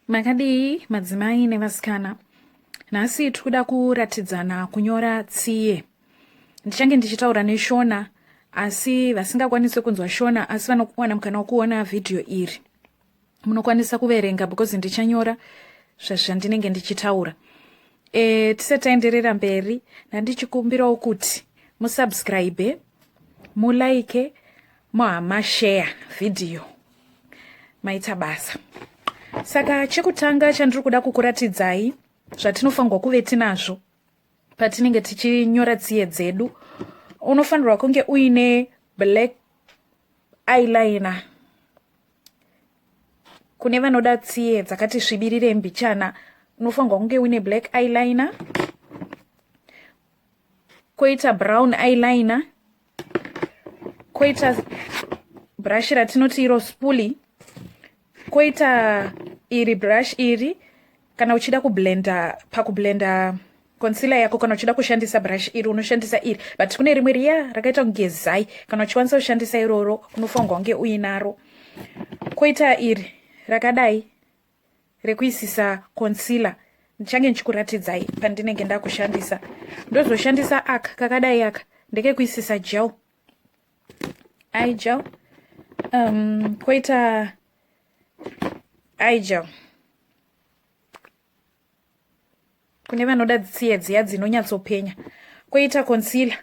makadii madzimai nevasikana nhasi tikuda kuratidzana kunyora tsiye ndichange ndichitaura neshona asi vasingakwanise kunzwa shona asi vanokuwana mukana wokuona vhidhiyo iri munokwanisa kuverenga because ndichanyora zvazvandinenge ndichitaura e, tisati taenderera mberi nandichikumbirawo kuti musubscribe mulike mohama share vhidhiyo maita basa saka chekutanga chandiri kuda kukuratidzai zvatinofanirwa kuve tinazvo patinenge tichinyora tsiye dzedu unofanirwa kunge uine black eyeliner kune vanoda tsiye dzakati svibirire mbichana unofanirwa kunge uine black eyeliner koita brown eyeliner koita brush ratinoti iro spuli koita iri brush iri kana uchida kublenda pakublenda konsila yako kana uchida kushandisa brush iri unoshandisa iri but kune rimwe riya rakaita kunge zai kana uchikwanisa kushandisa iroro unofanirwa kunge uinaro koita iri rakadai rekuisisa concealer ndichange ndichikuratidzai pandinenge ndakushandisa ndozoshandisa aka kakadai aka ndekekuisisa gel i gel um, koita i gel kune vanoda dzitsiye dziya dzinonyatsopenya koita concealer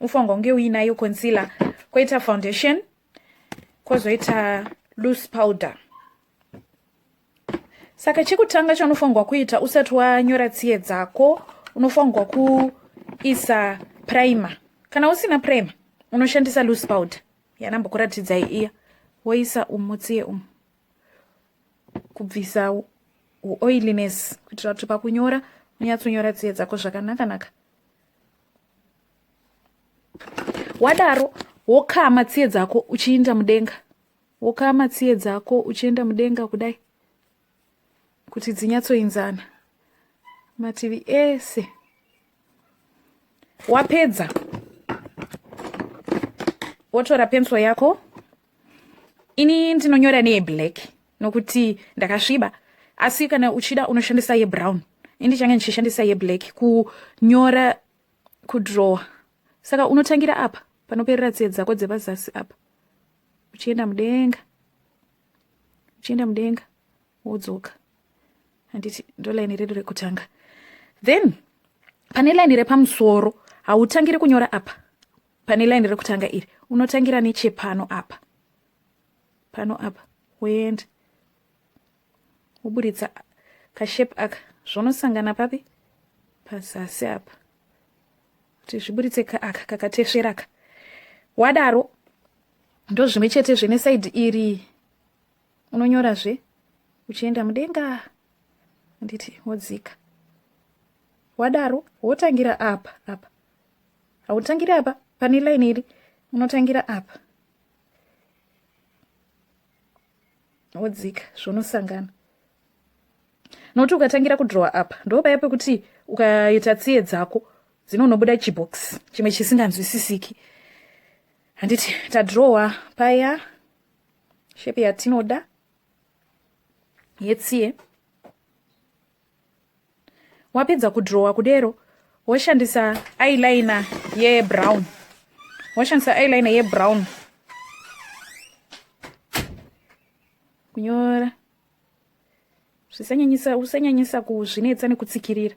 ufanirwa kunge uinayo concealer koita foundation kozoita loose powder saka chekutanga chaunofanirwa kuita usati wanyora tsiye dzako unofanirwa kuisa primer kana usina primer unoshandisa loose powder yanambokuratidzai iya woisa umu tsiye umu kubvisa uoiliness kuitira kuti pakunyora unyatsonyora tsiye dzako zvakanakanaka wadaro wokama tsiye dzako uchiinda mudenga Wokama tsiye dzako uchienda mudenga kudai kuti dzinyatsoinzana mativi ese. Wapedza wotora pensuro yako. Ini ndinonyora neyeblack nokuti ndakasviba, asi kana uchida unoshandisa yebrown. Ini ndichange ndichishandisa yeblack kunyora kudrowa. Saka unotangira apa panoperera tsiye dzako dzepazasi apa. uchienda mudenga uchienda mudenga wodzoka handiti ndo laini redu rekutanga then pane laini repamusoro hautangire kunyora apa pane laini rekutanga iri unotangira nechepano apa pano apa woenda woburitsa kashape aka zvonosangana papi pazasi apa kuti zviburitse aka kakatesvera ka wadaro ndozvimwe chete zvene saidi iri unonyorazve uchienda mudenga anditi wodzika wadaro wotangira apa apa hautangira apa pane laini iri unotangira apa wodzika zvonosangana nokuti ukatangira kudrowa apa ndopaya pekuti ukaita tsiye dzako dzinonobuda chibox chimwe chisinganzwisisiki handiti tadrowa paya shepi yatinoda yetsiye wapedza kudrowa kudero woshandisa eyeliner yebrown woshandisa eyeliner yebrown kunyora zvisanyanyisa usanyanyisa kuzvinetsa nekutsikirira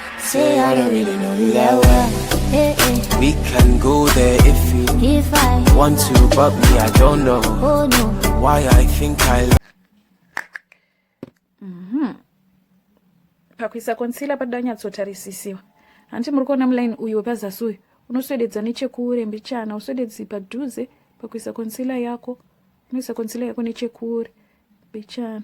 Say I don't really know you that well. Hey, eh, eh. hey. We can go there if you if I want to, but me, I don't know. Oh, no. Why I think I love mm-hmm. pakuisa concealer padoda anyatsotarisisiwa hanti muri kuona muline uyu wepazasi uyu unoswededza nechekure mbichana uswededzi padhuze pakuisa concealer yako unoisa concealer yako nechekure mbichana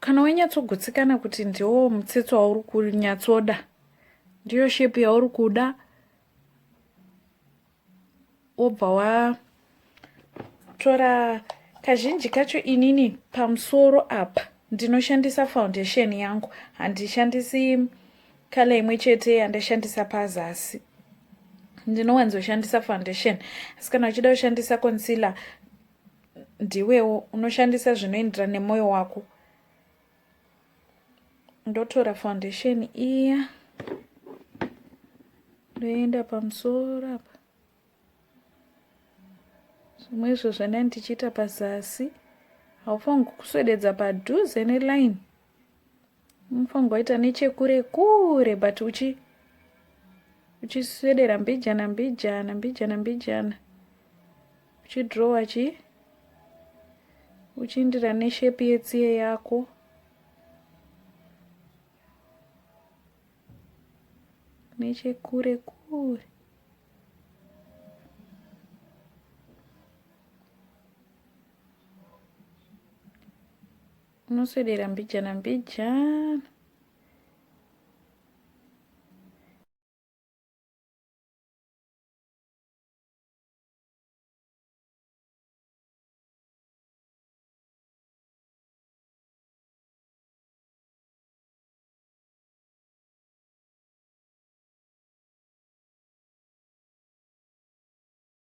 kana wainyatsogutsikana kuti ndiwo mutsetse wauri kunyatsoda ndiyo shepi yauri kuda wobva watora kazhinji kacho inini pamusoro apa ndinoshandisa foundation yangu handishandisi kala imwe chete yandashandisa pazasi ndinowanzoshandisa foundation asi kana uchida kushandisa concealer ndiwewo unoshandisa zvinoenderana nemwoyo wako ndotora foundation iya ndoenda pamusoro apa zvimwe izvo zvana ndichiita pazasi haufanirwi kuswededza padhuze neline Mufanga waita nechekure kure but uchi uchiswedera mbijana mbijana mbijana mbijana uchidrowa chii uchiindira neshepi yetsiye yako nechekure kure Unoswedera mbijana mbijana.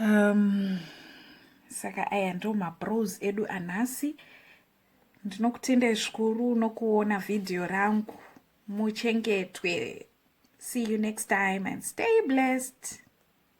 um, saka aya ndo mabros edu anhasi ndinokutendai zvikuru nokuona vhidhiyo rangu muchengetwe see you next time and stay blessed